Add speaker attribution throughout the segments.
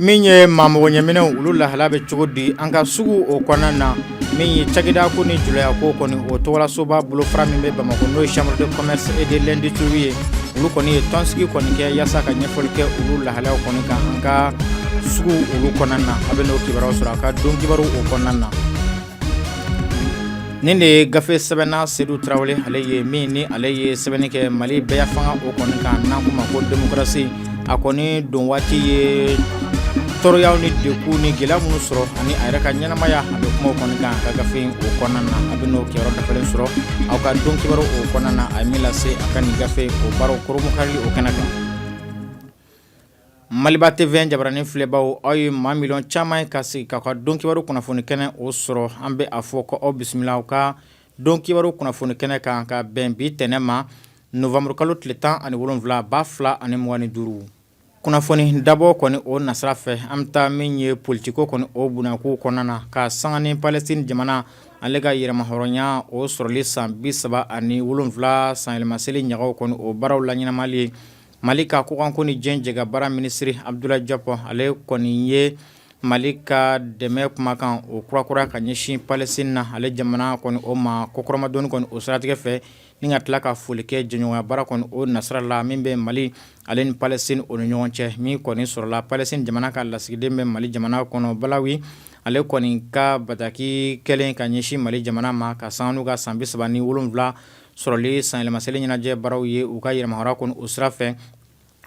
Speaker 1: Min ye maa magoɲɛminɛnw olu lahala bɛ cogo di an ka sugu o kɔnɔna na min ye cakɛda ko ni julaya ko kɔni o tɔgɔlasoba bolofara min bɛ bamakɔ n'o ye chambre de commerce et de l'industrie ye olu kɔni ye tɔnsigi kɔni kɛ yaasa ka ɲɛfɔli kɛ olu lahalaw kɔni kan an ka suguw olu kɔnɔna na a bɛ n'o kibaruya sɔrɔ a ka don kibaru o kɔnɔna na Nin de ye gafe sɛbɛnna Sedu Tarawele ale ye min ni ale ye sɛbɛnni kɛ Mali bɛɛyafanga o kɔni kan n'an k'o ma ko démocratie a kɔni don waati ye tɔɔrɔyaw ni degun ni gɛlɛya minnu sɔrɔ ani a yɛrɛ ka ɲɛnamaya a bɛ kuma o kɔni kan a ka gafe in o kɔnɔna na a bɛ n'o kibaru dafalen sɔrɔ aw ka don kibaru o kɔnɔna na a ye min lase a ka nin gafe o baaraw koromokarili o kɛnɛ kan Maliba TV jabaranin filɛbaw aw ye maa miliyɔn caman ye ka sigi k'aw ka don kibaru kunnafoni kɛnɛ o sɔrɔ an bɛ a fɔ ko aw bisimila aw ka don kibaru kunnafoni kɛnɛ kan ka bɛn bi tɛnɛn ma nowanburu kalo tile tan ani wolonwula ba fila ani mugan ni duuru kunnafoni dabɔ kɔni o nasira fɛ an bɛ taa min ye politiko kɔni o bɔnnakow kɔnɔna na ka sanga ni Palestine jamana ale ka yɛrɛmahɔrɔnya o sɔrɔli san bi saba ani wolonwula sanyɛlɛmaseli ɲagaw kɔni o baaraw laɲɛnamali ye Mali ka kɔkanko ni diɲɛ jɛkabaara minisiriri Abudulayi Jɔpu ale kɔni ye mali ka dɛmɛ kumakan o kura-kura ka ɲɛsin Palestine na ale jamana kɔni o ma kɔkɔrɔmadon kɔni o siratigɛ fɛ ni ka tila ka foli kɛ jɛɲɔgɔnya baara kɔni o nasira la min bɛ mali ale ni Palestine o ni ɲɔgɔn cɛ min kɔni sɔrɔla Palestine jamana ka lasigiden bɛ mali jamana kɔnɔ Balawi ale kɔni ka bataki kɛlen ka ɲɛsin mali jamana ma ka sanga n'u ka san bisaba ni wolonwula sɔrɔli sanyɛlɛmaseli ɲɛnajɛ baaraw ye u ka yɛrɛmahɔrɔnya kɔni o sira fɛ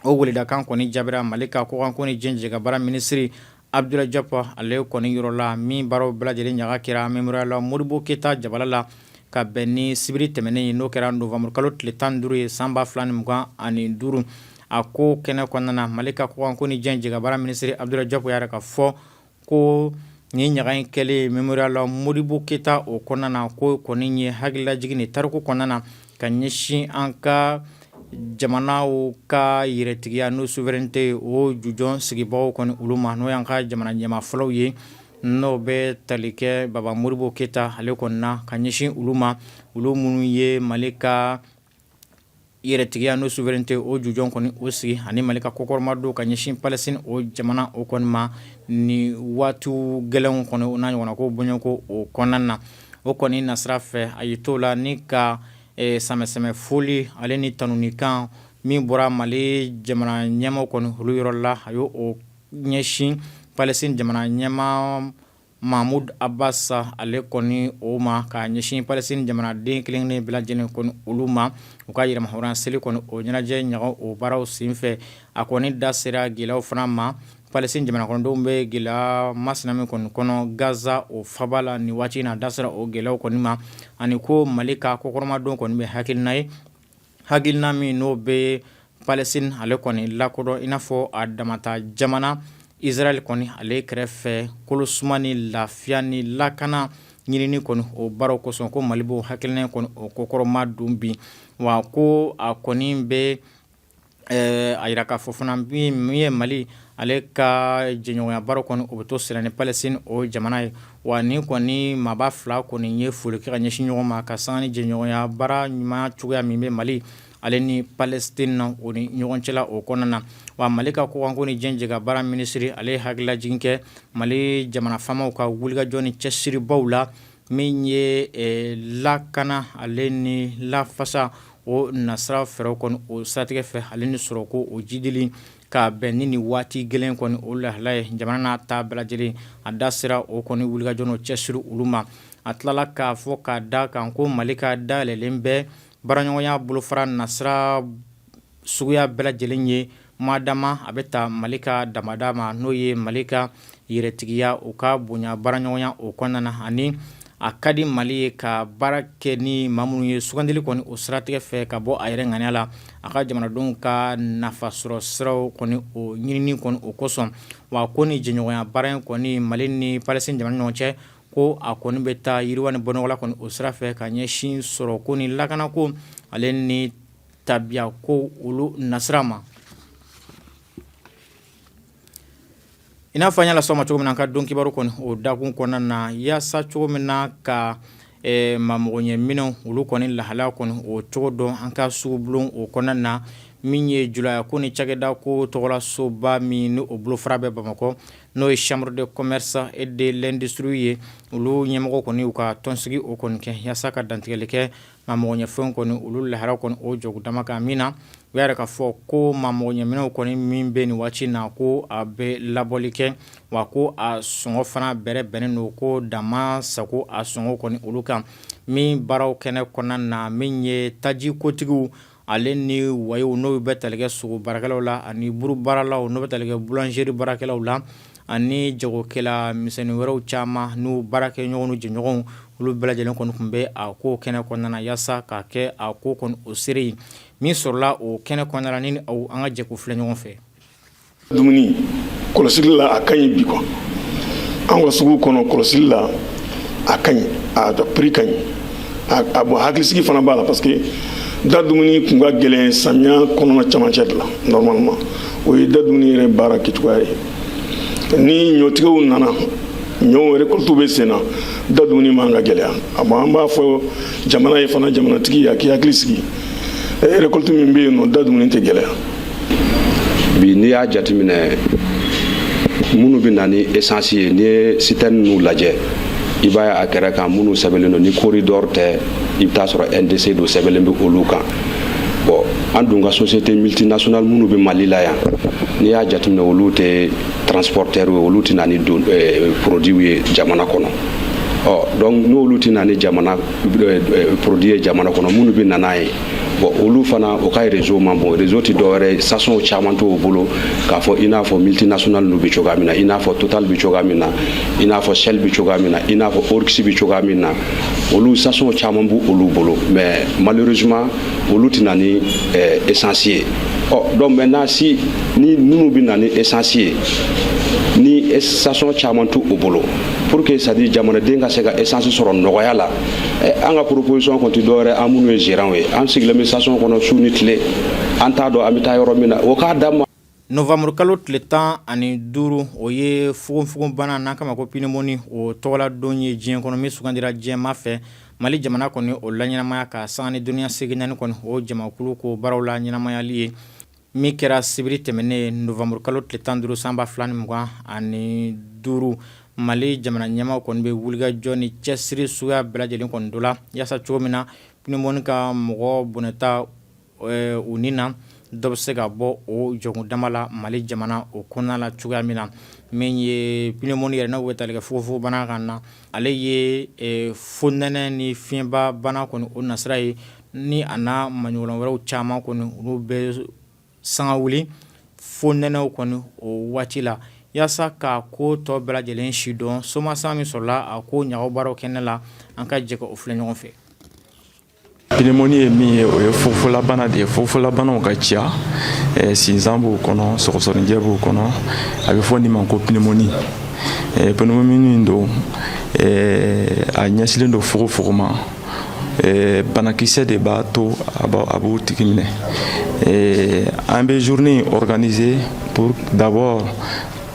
Speaker 1: o weledakan kɔni jaabira mali ka kɔkanko ni diɲɛ jɛkabaara minisiri Abudulayi Jɔpu ale kɔni yɔrɔ la min baaraw bɛɛ lajɛlen ɲaga kɛra Mémorial Modibo keyita jabala la ka bɛn ni sibiri tɛmɛnen ye n'o kɛra nowanburu kalo tile tan ni duuru ye san ba fila ni mugan ani duuru a ko kɛnɛ kɔnɔna mali ka kɔkanko ni diɲɛ jɛkabaara minisiri Abudulayi Jɔpu y'a yira ka fɔ ko nin ɲaga in kɛlen Mémorial Modibo keyita o kɔnɔna na ko kɔni ye hakililajigin ni tariku kɔnɔna na ka ɲɛsin an ka jamanaw ka yɛrɛtigiya n'u souveraineté o jujɔn sigibaaw kɔni olu ma n'o y'an ka jamana ɲɛmaa fɔlɔw ye n'o bɛ tali kɛ baba Modibo keyita ale kɔnɔna na ka ɲɛsin olu ma olu minnu ye mali ka yɛrɛtigiya n'o souveraineté o jujɔn kɔni o sigi ani Mali ka kɔkɔrɔmadon ka ɲɛsin Palestine o jamana o kɔni ma ni waati gɛlɛnw kɔni o n'a ɲɔgɔnna ko bɔɲɔgɔnko o kɔnɔna na o kɔni nasira fɛ a y'i t'o la ni ka eh, sɛmɛsɛmɛ foli ale ni tanunikan min bɔra Mali jamana ɲɛmaaw kɔni olu yɔrɔ la a y'o ɲɛsin Palestine jamana ɲɛmaa Mahmoud Abbas ale kɔni o ma ka ɲɛsin Palestine jamanaden kelenna bɛɛ lajɛlen kɔni olu ma u ka yɛrɛmahɔrɔnya seli kɔni o ɲɛnajɛ ɲaga o baaraw senfɛ a kɔni da sera gɛlɛyaw fana ma Palestine jamana kɔnɔdenw bɛ gɛlɛya masina min kɔni kɔnɔ Gaza o faba la ni waati in na a da sera o gɛlɛyaw kɔni ma ani ko mali ka kɔkɔrɔmadon kɔni bɛ hakilina ye hakilina min n'o bɛ Palestine ale kɔni lakodɔn i n'a fɔ a damata jamana Israel kɔni ale kɛrɛfɛ kolosuma ni lafiya ni lakana ɲinini kɔni o baaraw kosɔn ko mali b'o hakilina kɔni o kɔkɔrɔmadon bi wa ko a kɔni bɛ a yira k'a fɔ fana min ye mali ale ka jɛɲɔgɔnya baara kɔni o bɛ to senna ni Palestine o jamana ye wa ni kɔni maaba fila kɔni ye foli kɛ ka ɲɛsin ɲɔgɔn ma ka san jɛɲɔgɔnya baara ɲuman cogoya min bɛ mali ale ni Palestine na o ni ɲɔgɔn cɛla o kɔnɔna na wa mali ka kɔkanko ni diɲɛ jɛkabaara minisiri ale hakililajigin kɛ mali jamana faamaw ka wulikajɔ ni cɛsiribaw la min ye lakana ale ni lafasa o nasira fɛɛrɛw kɔni o siratigɛ fɛ ale ni sɔrɔko o jiidili ka bɛn ni nin waati gɛlɛn kɔni o lahala ye jamana n'a ta bɛɛ lajɛlen a da sera o kɔni wulikajɔ n'o cɛsiri olu ma a tilala k'a fɔ k'a da kan ko mali ka dayɛlɛlen bɛ baaraɲɔgɔnya bolofara nasira suguya bɛɛ lajɛlen ye madama a bɛ taa mali ka damada ma n'o ye mali ka yɛrɛtigiya o ka bonya baaraɲɔgɔnya o kɔnɔna na ani a ka di mali ye ka baara kɛ ni maa minnu ye sugandili kɔni o siratigɛ fɛ ka bɔ a yɛrɛ ŋaniya la a ka jamanadenw ka nafasɔrɔ siraw kɔni o ɲinini kɔni o kosɔn wa ko ni jɛɲɔgɔnya baara in kɔni mali ni Palestine jamana ɲɔgɔn cɛ ko a kɔni bɛ taa yiriwa ni bɔnɔgɔla kɔni o sira fɛ ka ɲɛsin sɔrɔko ni lakanako ale ni tabiyakow olu nasira ma I n'a fɔ an y'a lasɔma cogo min na an ka don kibaru kɔni o dakun kɔnɔna na yaasa cogo min na ka maa magoɲɛminɛnw olu kɔni lahalaya kɔnɔ o cogo dɔn an ka sugu bulon o kɔnɔna na min ye julaya ko ni cakɛda ko tɔgɔlasoba min n'o bolofara bɛ bamakɔ n'o ye chambre de commerce et de l'industrie ye olu ɲɛmɔgɔ kɔni u ka tɔnsigi o kɔni kɛ yaasa ka dantigɛli kɛ maa magoɲɛfɛnw kɔni olu lahala kɔni o cogo dama kan min na u y'a yira k'a fɔ ko maa magoɲɛminɛnw kɔni min bɛ nin waati na ko a bɛ laboli kɛ wa ko a sɔngɔ fana bɛrɛbɛnnen don ko dama sago a sɔngɔ kɔni olu kan min baaraw kɛnɛ kɔnɔna na min ye taji kotigiw ale ni wayew n'o bɛ tali kɛ sogo baarakɛlaw la ani buru baaralaw n'o bɛ tali kɛ boulangerie baarakɛlaw la ani jagokɛla misɛnnin wɛrɛw caman n'u baarakɛɲɔgɔn n'u jɛɲɔgɔnw olu bɛɛ lajɛlen kɔni tun bɛ a ko kɛnɛ kɔnɔna yaasa ka kɛ a ko kɔni o seere ye min sɔrɔla o kɛnɛ kɔnɔna la ne ni aw an ka jɛ k'u filɛ ɲɔgɔn fɛ
Speaker 2: dumuni kɔlɔsili la a ka ɲi bi quoi an ka sugu kɔnɔ kɔlɔsili la a ka ɲi a prix ka ɲi a bon hakilisigi fana b'a la parce que da dumuni kun ka gɛlɛn samiya kɔnɔna camancɛ de la normalement o ye da dumuni yɛrɛ baara kɛcogoya ye ni ɲɔtigɛw nana ɲɔ récolte bɛ sen na da dumuni man ka gɛlɛya a bon an b'a fɔ jamana ye fana jamanatigi a k'i hakili sigi e eh, récolte min bɛ yen nɔ da dumuni tɛ
Speaker 3: gɛlɛya bi n'i y'a jateminɛ minnu bɛ na ni essence ye n'i ye citerne nu lajɛ i b'a ye a kɛrɛ kan minnu sɛbɛnlen don ni corridor tɛ i bɛ taa sɔrɔ ndc don sɛbɛnlen bɛ olu kan bon an dun ka société multinationale minnu bɛ mali la yan n'i y'a jateminɛ olu tɛ transporteur ye olu tɛ na ni eh, produit ye jamana kɔnɔ ɔ donc n'olu tɛ na ni jamana produit ye jamana kɔnɔ minnu bɛ na n'a ye bon olu fana o ka réseau man bon réseau tɛ dɔwɛrɛ station caman t'o bolo k'a fɔ i n'a fɔ multinational nu bɛ cogoya min na i n'a fɔ total bɛ cogoya min na i n'a fɔ shell bɛ cogoya min na i n'a fɔ oryx bɛ cogoya min na olu station caman b'u olu bolo mais malheureusement olu tɛ na ni eh, essence ye ɔ donc maintenant si ni minnu bɛ na ni essence ye ni station caman t'u u bolo pour que c'est-à-dire jamanaden ka se ka essence sɔrɔ nɔgɔya la eh, an ka proposition kun tɛ dɔwɛrɛ an minnu ye gérant ye an sigilen bɛ station kɔnɔ su ni tile an t'a dɔn an bɛ taa yɔrɔ min na o k'a d'an ma novembre kalo tile
Speaker 1: tan ani duuru o ye fogonfogonbana n'an k'a ma ko pneumonie o tɔgɔla don ye diɲɛ kɔnɔ min sugandira diɲɛ maa fɛ mali jamana kɔni o laɲɛnamaya ka sanga ni duniɲa seleke naani kɔni o jamakulu ko baaraw laɲɛnamayali ye Min kɛra sibiri tɛmɛnen novembre kalo tile tan duuru san ba fila ni mugan ani duuru mali jamana ɲɛmaa kɔni bɛ wulikajɔ ni cɛsiri suguya bɛɛ lajɛlen kɔni dɔ la yaasa cogo min na pneumonie ka mɔgɔ bɔnɛta u ni na dɔ bɛ se ka bɔ o jɔkundama la mali jamana o kɔnɔna la cogoya min na min ye pneumonie yɛrɛ n'o bɛ tali kɛ fogonfogonbana kan na ale ye fonɛnɛ ni fiɲɛba bana kɔni o nasira ye ni a n'a maɲɔgɔn wɛrɛw caman kɔni olu bɛ sanga wuli fonɛnɛ kɔni o waati la yaasa ka ko tɔ bɛɛ lajɛlen sidɔn soma san min sɔrɔla a ko ɲabaa kɛnɛ la an ka jɛ k'o filɛ ɲɔgɔn fɛ
Speaker 4: pneumonie ye min ye o ye fogonfogonlabana de ye fogonfogonlabanaw ka ca sinsan b'o kɔnɔ sɔgɔsɔgɔninjɛ b'o kɔnɔ a bɛ fɔ nin ma ko pneumonie poumon don a ɲɛsinlen don fogonfogon ma Eh, banakisɛ de b'a to a b'o tigi minɛ eh, an bɛ journée organiser pour d'abord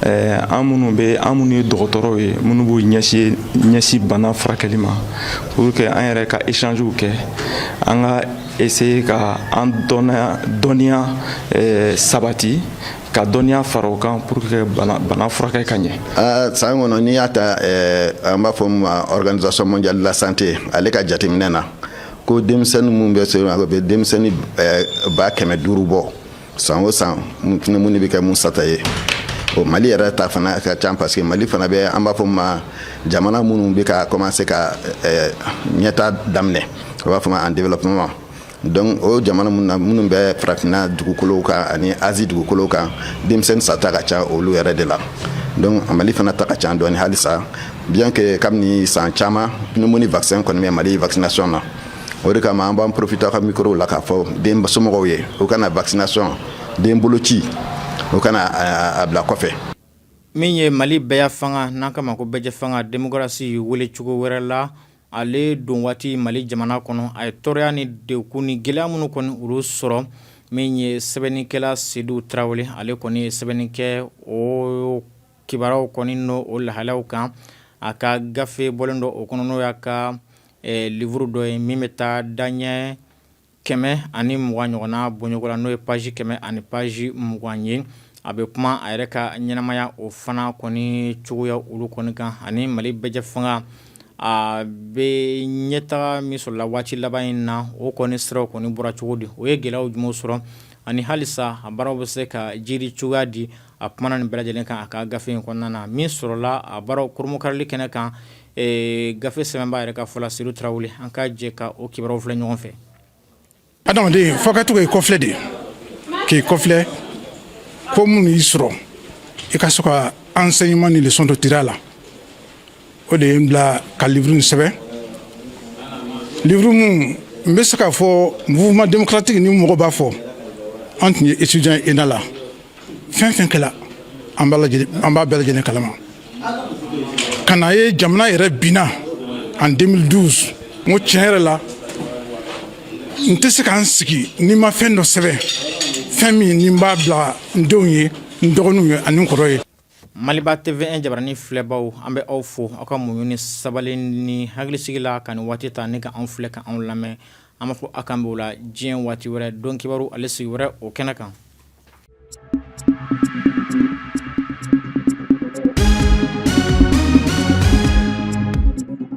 Speaker 4: eh, an minnu bɛ an minnu ye dɔgɔtɔrɔw ye minnu b'u ɲɛsin ɲɛsin bana furakɛli ma pour que an yɛrɛ ka échangew kɛ an ka essayer ka an dɔnniya dɔnniya sabati ka dɔnniya fara o kan pour que bana, bana furakɛ ka ɲɛ ah, san kɔnɔ n'i
Speaker 5: y'a ta eh, an b'a fɔ ma organisation mondiale de la santé ale ka jateminɛ na ko denmisɛnni minnu bɛ sa a bɛ denmisɛnni eh, ba kɛmɛ duuru bɔ san o san pneumonie bɛ kɛ minnu sata ye o mali yɛrɛ ta fana ka ca parce que mali fana bɛ an b'a fɔ ma jamana minnu bɛ ka commencer ka eh, ɲɛta daminɛ o b'a fɔ ma en développement Donc o jamana min na minnu bɛ farafinna dugukolow kan ani Asie dugukolow kan denmisɛnnin sata ka ca olu yɛrɛ de la donc mali fana ta ka ca dɔɔnin halisa bien que kabini san caman pneumonie vaccin kɔni bɛ mali vaccination na o de kama an b'an profiter ka micro la k'a fɔ densomɔgɔw ye u kana vaccination den boloci u kana a bila kɔfɛ min ye
Speaker 1: mali bɛɛ fanga n'an kan b'a ma ko bɛɛjɛ fanga démocratie wele cogo wɛrɛ la Ale don waati mali jamana kɔnɔ a ye tɔɔrɔya ni degun ni gɛlɛya minnu kɔni olu sɔrɔ min ye sɛbɛnnikɛla sedu tarawele ale kɔni ye sɛbɛnni kɛ o kibaruyaw kɔni n'o lahalayaw kan a ka gafe bɔlen dɔ o kɔnɔ n'o y'a ka livre dɔ ye min bɛ taa daɲɛ kɛmɛ ani mugan ɲɔgɔnna bɔɲɔgɔn la n'o ye page kɛmɛ ani page mugan ye a bɛ kuma a yɛrɛ ka ɲɛnamaya o fana kɔni cogoya olu kɔni kan ani mali bɛɛjɛ fanga a bɛ ɲɛtaga min sɔrɔ la waati laban in na o kɔni sira kɔni bɔra cogo di o ye gɛlɛyaw jumɛn sɔrɔ ani halisa a baaraw bɛ se ka jiri cogoya di a kumana nin bɛɛ lajɛlen kan a ka gafe in kɔnɔna na min sɔrɔla a baaraw kurunbonkarili kɛnɛ kan Ee gafe sɛbɛnbaa yɛrɛ ka fɔ la Sedu Tarawele. An ka jɛ ka o kibaruyaw filɛ ɲɔgɔn fɛ.
Speaker 6: Adamaden fo a ka to ka i kɔfilɛ de. K'i kɔfilɛ ko minnu y'i sɔrɔ i ka se ka enseignement ni leçon dɔ tir'a la. O de ye n bila ka livre in sɛbɛn. Livre min n bɛ se k'a fɔ mouvement démocratique ni mɔgɔw b'a fɔ an tun ye étudiant ye ENA la. fɛn fɛn kɛla an b'a lajɛlen an b'a bɛɛ lajɛlen kalama ka na ye jamana yɛrɛ binna en 2012 n ko tiɲɛ yɛrɛ la n tɛ se ka n sigi ni n ma fɛn dɔ sɛbɛn fɛn min ni n b'a bila n denw ye n dɔgɔninw ye ani n kɔrɔ ye Maliba TV
Speaker 1: jabaranin filɛbaw an bɛ aw fo aw ka muɲu ni sabali ni hakilisigi la ka nin waati ta ne ka an filɛ ka anw lamɛn an b'a fɔ aw k'an bɛn ala diɲɛ waati wɛrɛ don kibaru ale sigi wɛrɛ o kɛnɛ kan